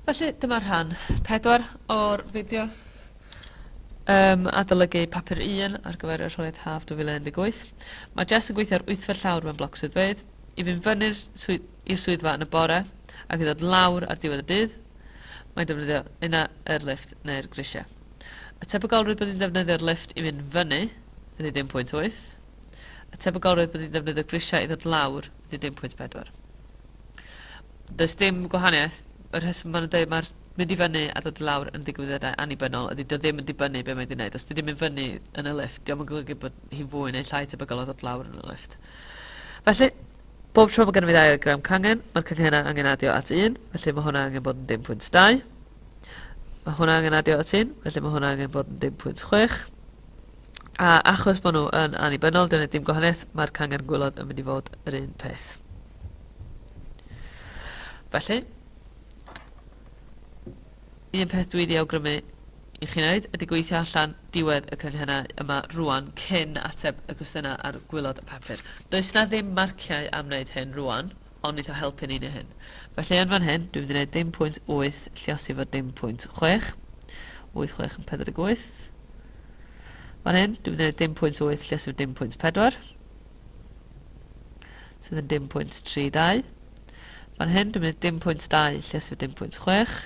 Felly, dyma rhan 4 o'r fideo um, adolygu papur 1 ar gyfer y rholiad haf 2018. Mae Jess yn gweithio ar wythfa llawr mewn bloc swyddfeydd, i fynd fyny'r swydd, i'r swyddfa yn y bore ac i ddod lawr ar diwedd y dydd, mae'n defnyddio yna yr lift neu'r grisiau. Y tebygolrwydd bod hi'n ddefnyddio'r lift i fynd fyny ydy 10.8. Y tebygolrwydd bod hi'n defnyddio grisiau i ddod lawr ydy 1.4. Does dim gwahaniaeth. Y rheswm maen nhw'n dweud mae'r mynd i fyny a dod i lawr yn ddigwyddiadau annibynnol ydy dio ddim yn dibynnu be mae wedi wneud. Os di ddim yn fyny yn y lift, diolch yn golygu bod hi'n fwy neu llai tebygol o ddod lawr yn y lift. Felly, bob tro mae gennym ni ddau o gram cangen, mae'r canghennau angen adio at 1, felly mae hwnna angen bod yn 1.2. Mae hwnna angen adio at 1, felly mae hwnna angen bod yn 1.6. A achos bod nhw yn annibynnol, dyna dim gwahaniaeth, mae'r cangen gwylod yn mynd i fod yr un peth. Felly, un peth dwi wedi awgrymu i chi wneud ydy gweithio allan diwedd y cynghennau yma rwan cyn ateb y cwestiynau ar gwylod y papur. Does na ddim marciau am wneud hyn rwan, ond neith o helpu ni neu hyn. Felly yn fan hyn, dwi'n mynd i neud dim pwynt wyth lliosi efo dim pwynt chwech. Wyth chwech yn pedwar deg wyth. Fan hyn, dwi'n mynd i neud dim pwynt wyth lliosi efo dim pwynt pedwar. Sydd yn dim pwynt tri dau. Fan hyn, dwi'n mynd i neud dim pwynt dau lliosi efo dim pwynt chwech.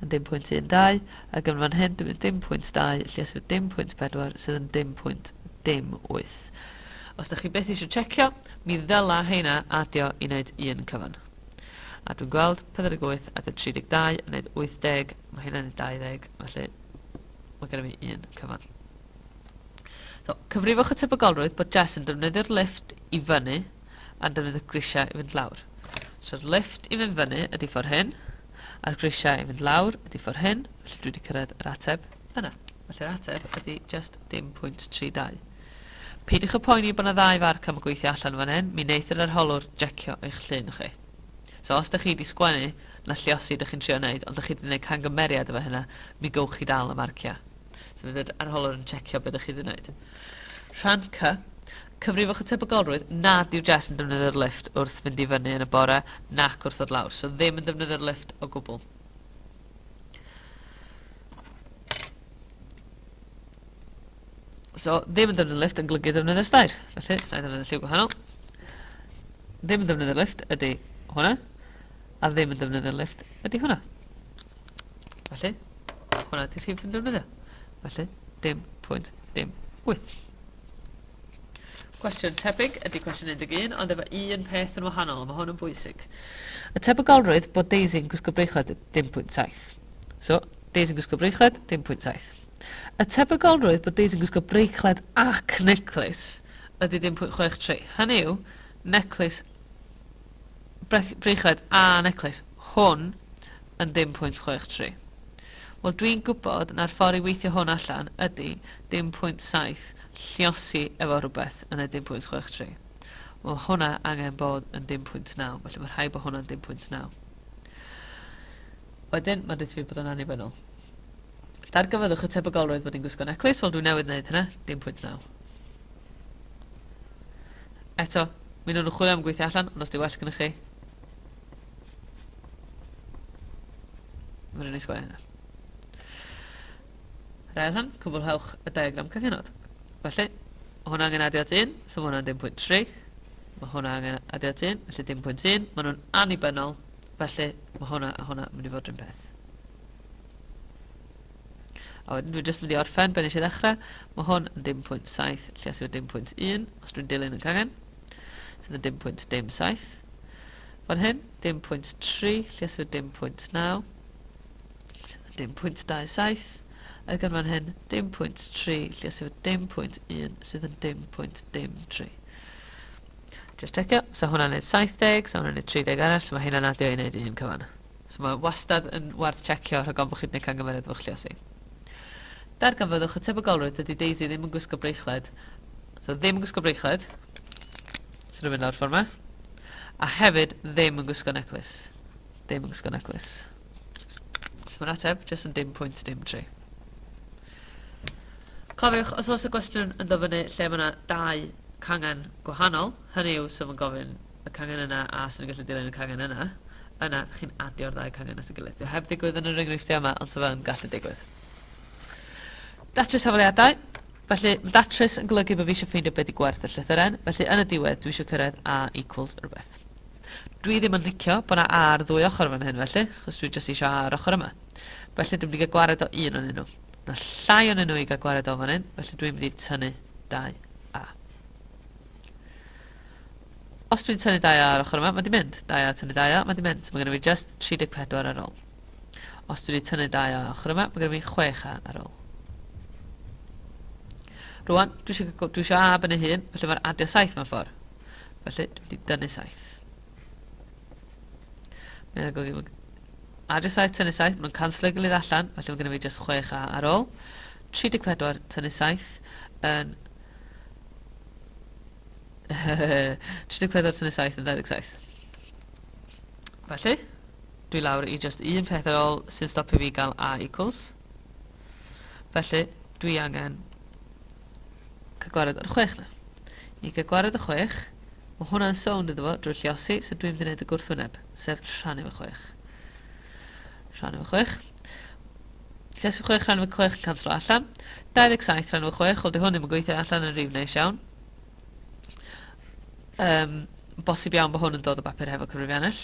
yn dim pwynt 1, 2, ac yn fan hyn, dyma dim pwynt 2, lle sydd dim pwynt 4, sydd yn dim pwynt dim 8. Os da chi beth eisiau checio, mi ddyla heina adio i wneud un cyfan. A dwi'n gweld 48 a 32 yn neud 80, mae hynna'n neud 20, felly mae gennym ni un cyfan. So, cyfrifwch y tebygolrwydd bod Jess yn defnyddio'r lift i fyny a'n defnydd y grisiau i fynd lawr. So'r lift i fynd fyny ydy ffordd hyn, a'r grisiau i fynd lawr ydy ffordd hyn, felly dwi wedi cyrraedd yr ateb yna. Felly'r ateb ydy just dim pwynt 32. Peidiwch y poeni bod yna ddau farc am y gweithio allan fan hyn, mi wneith yr arholwr jecio eich llun chi. So os da chi wedi sgwennu na lliosi da chi'n trio wneud, ond da chi wedi gwneud cangymeriad efo hynna, mi gywch chi dal y marciau. So fydd yr arholwr yn checio beth da chi wedi wneud. Rhan C, Cyfrifwch y tebygolrwydd nad yw Jess yn defnyddio'r lifft wrth fynd i fyny yn y bore nac wrth ddod lawr, so ddim yn defnyddio'r lifft o gwbl. So, ddim yn defnyddio'r lift yn golygu defnyddio'r stair. Felly, stair defnyddio'r lliw gwahanol. Ddim yn defnyddio'r lift ydy hwnna. A ddim yn defnyddio'r lift ydy hwnna. Felly, hwnna ydy'r rhif dwi'n defnyddio. Felly, dim pwynt, dim 8. Cwestiwn tebyg ydy cwestiwn 11, ond efo un peth yn wahanol, mae hwn yn bwysig. Y tebygolrwydd bod Daisy yn gwisgo breichlet dim pwynt 7. So, Daisy yn gwisgo breichlet, dim pwynt 7. Y tebygolrwydd bod Daisy yn gwisgo breichlet ac neclis ydy dim pwynt 63. Hynny yw, neclis, breichlet a neclis hwn yn ddim pwynt chwech tri. Wel, dwi'n gwybod na'r ffordd i weithio hwn allan ydy dim pwynt saith lliosi efo rhywbeth yn y dim pwynt chwech tri. Wel, mae hwnna angen bod yn dim pwynt naw, felly mae rhaid bod hwnna'n dim pwynt naw. Wedyn, mae'n dweud fi bod o'n annibynnol. Dargyfyddwch y tebygolrwydd bod hi'n gwisgo neclis, wel dwi newydd wneud hynna, dim pwynt naw. Eto, mi nhw'n chwilio am gweithio allan, ond os di well gyda chi, Mae'n rhaid i sgwarae hynna. Rhaid hwn, cwblhewch y diagram cyfenod. Felly, mae hwnna angen adio at 1, so mae hwnna'n 10.3. Mae hwnna angen adio at 1, felly 10.1. Mae nhw'n annibynnol, felly mae hwnna a hwnna yn mynd i fod rhywun peth. A wedyn dwi'n jyst mynd i orffen ben eisiau ddechrau. Mae hwn yn 10.7, lle os yw'n 10.1, os dwi'n dilyn yn cangen, sydd yn 10.7. Fan hyn, dim pwynt 3, lleswyd dim pwynt 9, sydd yn dim pwynt 27, ac yn fan hyn, dim pwynt 3, lleswyd dim pwynt 1, sydd yn dim pwynt dim 3. Just checio, so hwnna'n neud 70, so hwnna'n neud 30 arall, so mae hynna'n adio i neud un cyfan. So mae wastad yn werth checio rhag ofn bod chi'n gwneud cangymeriad efo chluosi. Darganfyddwch y tebygolrwydd dydy Daisy ddim yn gwisgo breichled So ddim yn gwisgo bracelet. Sy'n mynd lawr ffordd yma. A hefyd ddim yn gwisgo neclis. Ddim yn gwisgo neclis. So mae'n ateb, jyst yn dim pwynt dim tri. Cofiwch, os oes y gwestiwn yn dofynu lle mae yna dau cangen gwahanol, hynny yw sef yn gofyn y cangen yna a sy'n gallu dilyn y cangen yna, yna ydych chi'n adio'r ddau cangen at y gilydd. Dwi heb ddigwydd yn yr enghreifftiau yma, ond sef yn gallu digwydd. Datrys hafaliadau. Felly, fy datrys yn golygu bod fi eisiau ffeindio be 'di gwerth y llythyren, felly yn y diwedd dwi eisiau cyrraedd A equals rhywbeth. Dwi ddim yn licio bod 'na A ar ddwy ochr yn fan hyn felly, achos dwi jyst eisiau A ar ochr yma. Felly dwi'n mynd i gael gwared o un o'n nhw. Mae llai o'n nhw i gael gwared o fan hyn, felly dwi'n mynd i tynnu dau A. Os dwi'n tynnu dau A ar ochr yma, mae di mynd. Dau A tynnu dau A, mae di mynd. So mae gen i fi just 34 ar ôl. Os dwi wedi tynnu dau o ochr yma, mae gen i fi chwech A ar ôl. Rwan, dwi eisiau, dwi eisiau A ben ei hun, felly mae'n adio saith mewn ffordd. Felly, dwi wedi dynnu saith. Mae'n agor i adio saith, tynnu saith, mae'n canslo'i gilydd allan, felly mae gen i fi just chwech A ar ôl. 34, tynnu saith, yn 34 tynnu 7 yn 27. Felly, Dwi lawr i jyst un peth ar ol sy'n stopio fi gael a equals. Felly, dwi angen cygwared ar y chwech na. I cygwared y chwech, mae hwnna'n sownd iddo fo drwy lliosi, so dwi'n mynd i wneud y gwrthwyneb, sef rhannu fy chwech. Rhannu fy chwech. Lliosi fy chwech, rhannu fy chwech yn canslo allan. 27 rhannu fy chwech, wel di hwn ddim yn gweithio allan yn rif neis iawn. Um, bosib iawn bod hwn yn dod o bapur hefo cyfrifiannell.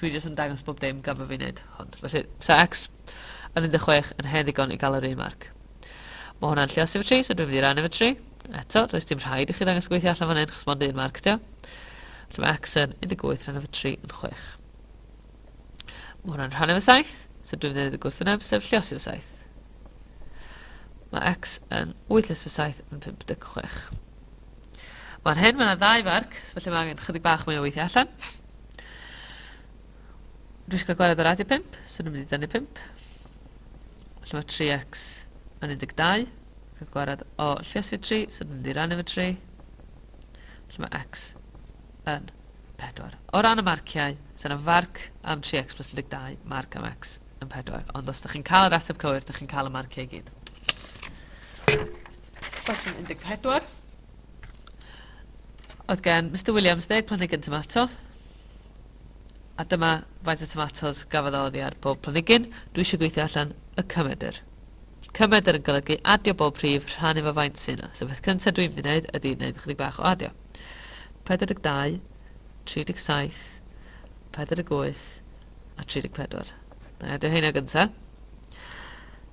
Dwi jyst yn dangos bob dim gan fod fi'n neud hwn. Felly, sa X yn 16 yn hen ddigon i gael yr un marc. Mae hwnna'n lle o symmetry, so dwi'n mynd i rannu fy tri. Eto, does dim rhaid i chi ddangos gweithio allan fan hyn, chos mond un marc dio. Felly mae X yn 18 rhan efo 3 yn 6. Mae hwnna'n rhan efo 7, so dwi'n mynd i gwrth yn sef lle o sef 7. Mae X yn 8 nes fy 7 yn 56. Fan hyn mae yna ddau farc, so felly mae angen chydig bach mwy o weithio allan. Dwi eisiau cael gwared ar radio 5, so dwi'n mynd i dynnu 5. Felly mae 3x yn 12. Cael gwared o lliosi 3, so dwi'n mynd i rannu fy 3. Felly mae x yn 4. O ran y marciau, sy'n yna farc am 3x plus 12, marc am x yn 4. Ond os ydych chi'n cael yr ateb cywir, ydych chi'n cael y marciau i gyd. Cwestiwn 14. Oedd gen Mr Williams ddeg planhigyn tomato, a dyma faint o tomatos gafodd o oddi ar bob planhigyn. Dwi eisiau gweithio allan y cymedr. Cymedr yn golygu adio bob prif rhan efo faint sy'n yna. So beth cyntaf dwi'n mynd i wneud ydy wneud ychydig bach o adio. 42, 37, 48 a 34. Na i adio heina gyntaf.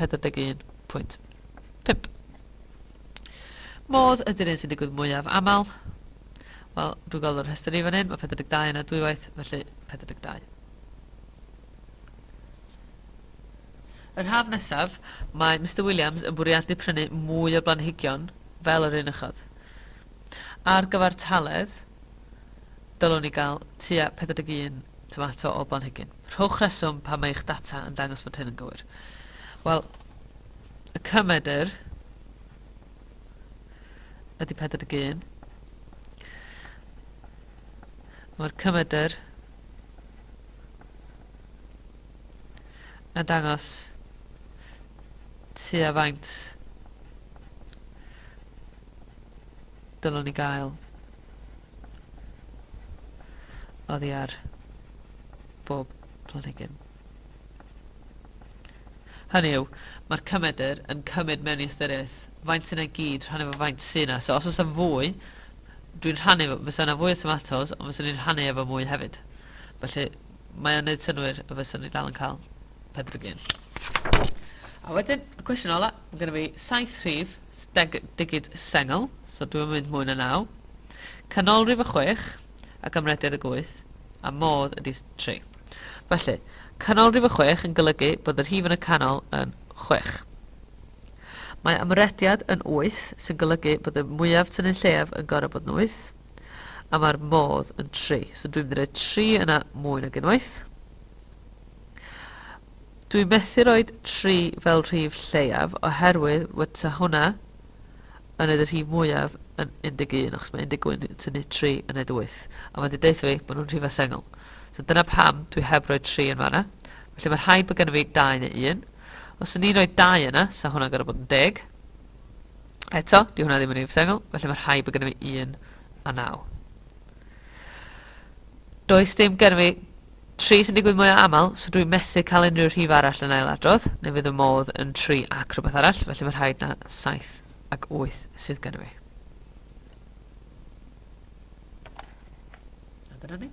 41.5. Modd ydy'r un sy'n digwydd mwyaf aml. Wel, dwi'n gweld o'r rhestr i fan hyn, mae 42 yna dwywaith, felly 42. Yr haf nesaf, mae Mister Williams yn bwriadu prynu mwy o blanhigion fel yr un uchod. Ar gyfartaledd, dylwn i gael tua 41 tomato o blanhigyn. Rhowch reswm pam mae eich data yn dangos fod hyn yn gywir. Wel, y cymedr ydy 41. Mae'r cymedr yn dangos tua faint dylwn ni gael Oddi ar bob planhigyn. Hynny yw, mae'r cymedr yn cymryd mewn i ystyriaeth faint sy'n ei gyd rhannu efo faint sy'n yna. So os oes am fwy, dwi'n rhannu, fysa yna fwy o tomatos, ond fysa ni'n rhannu efo mwy hefyd. Felly, mae o'n neud synwyr y fysa ni dal yn cael pedrygyn. A wedyn, y cwestiwn ola, mae gen i fi saith rhif, Steg digid sengl, so dwi'm yn mynd mwy na naw. Canolrif y chwech, a gymrediad y gwyth, a modd ydi tri. Felly, canolrif y chwech yn golygu bod y rhif yn y canol yn chwech. Mae ymrediad yn wyth, sy'n golygu bod y mwyaf tynnu lleiaf yn gorau bod yn wyth, a mae'r modd yn tri. So dwi'n mynd i roi tri yna mwy nag unwaith. Dwi methu roid tri fel rhif lleiaf oherwydd fyta hwnna yn neud y rhif mwyaf yn 11 achos mae 11 yn tynnu 3 yn neud 8 a mae wedi deutha fi bod nhw'n rhifau sengl. So dyna pam dwi heb roi 3 yn fanna. Felly mae rhaid bod gennym fi 2 neu 1. Os o'n i'n rhoi 2 yna, sa hwnna'n gorau bod yn 10. Eto, di hwnna ddim yn rhif sengl, felly mae rhaid bod gennym fi 1 a 9. Does dim gennym fi Tri sy'n digwydd mwyaf aml, so dwi'n methu cael unrhyw rhif arall yn ailadrodd, neu fydd fy modd yn tri ac rhywbeth arall, felly mae rhaid na saith ac wyth sydd gen i fi. A dyna ni.